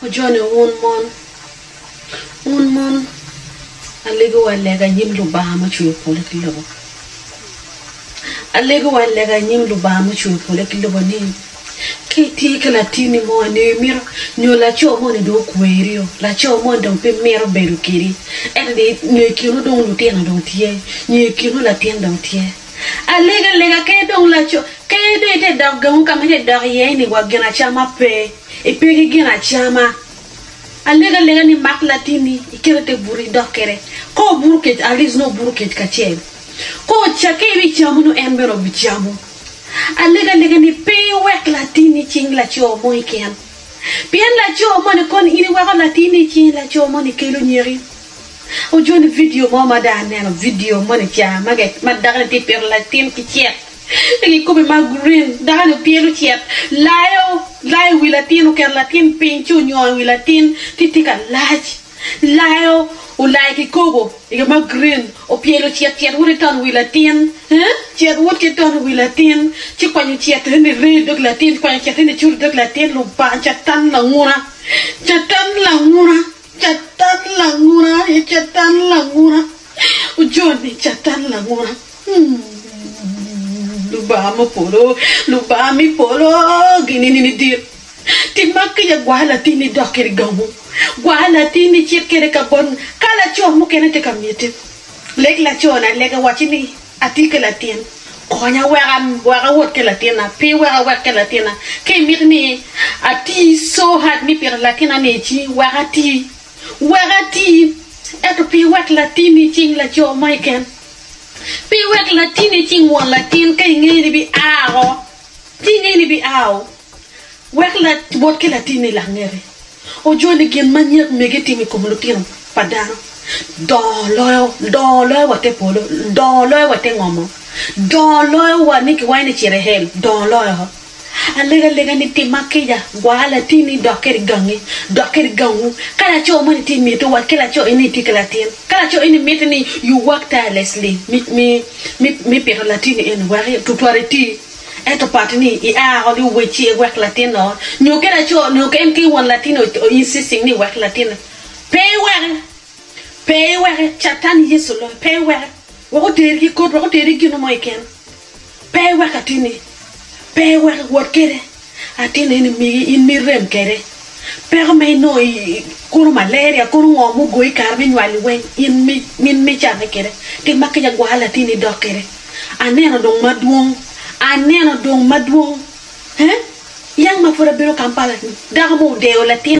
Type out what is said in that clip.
Wujone wun mon, wun mon alegowa lega i nyim Lubanga mucweyo polo ki lobo. Alegowa lega i nyim Lubanga mucweyo polo ki lobo ni ka itye ki latinni mo nyo imito nyo laco moni dong okwerio, laco moni dong pe mito bedo kedi ento ni nyo i kinu dong lutino dong tye nyo i kinu latin dong tye alega lega kadi dong laco kadi dong ite dok gangu ka ma ite dok iye-ni wa ginacama pe. Ipe ki gin acama. Alego alega ni mak latinni ikete i te buto idok kwede. Ka obuto kec, at least nongo obuto kec kacel. Ka ocakke ibicamo nongo en bene obicamo. Alego alega ni pe iwek latinni icing laco mo keken. Pien laco moni koni in iweko latinni icing laco moni kelo nyeki. Ojoni vidio mo ma dong aneno, vidio moni ca ma dakoni tye ka pito latin ki cek. I nge kome ma green, dano-ni pyelo cet, layo, layo i wi latin, oketo latin piny ci onyongo i wi latin ci tye ka lac, layo, olayo kikopo i nge ma green, opyelo cet, cet woto ki tono i wi latin eeh, cet woto ki tono i wi latin ci kwanyo cet eni rye i dog latin, kwanyo cet eni curo i dog latin, Lubanga, Catan languna, Catan languna. Catan langura e catan langura ojoni catan langura mm lubanga me polo lubanga me polo ginini ni dit timak ki ya gwa latini idok kede gamu gwa latini icit kede kabon ka laco mukene tye ka miti leg laco ni alega wacci ni Atye ki latin, konya wek awot ki latinna, pi wek awek ki latinna. Ka imito ni ati so hard ni pito latinna ni ci wek ati, wek ati, ento pi iwek latinni i cing laco mo keken, pi iwek latinni i cing won latin ka ingeyo ni bi aa o, ci ingeyo ni bi aa o. Wek Lawot ki Latinni Langete ojo ni gin ma nyek mege timo i kom lutino pa dano dongo loyo wa te polo, dongo loyo wa te ngomo, dongo loyo wa ni kiwanyo ni cit i hel, dongo loyo. Alego alega ni tim ma kica gwaro latinni dok kede gangi, dok kede gangwu. Ka laco moni itye mito wat ki laco eni itye ki latin, ka laco eni miti ni you work tirelessly me pito latinni eni wek tutwale iti, Ento part ni i a ot i owecci e wek latin oot nyo ki laco nyo en ki won latin o insisting ni wek latin pe i weke pe i weke catan yecu loyo pe i weke wek oteri ki koti wek oteri ki gino mo keken pe i weke atini pe i weke wot kede. Atin eni migi in mi irem kede. Peko ma inongo i kono malaria kono ngo mu goyi kare mi nywali weng in mi in mi cane kede. Tim ma kica gwar latin ni dok kede. Aneno dong ma dwong. Aneno dong ma dwong. He? Yang ma pud abino Kampala ni dako mo odeyo latin.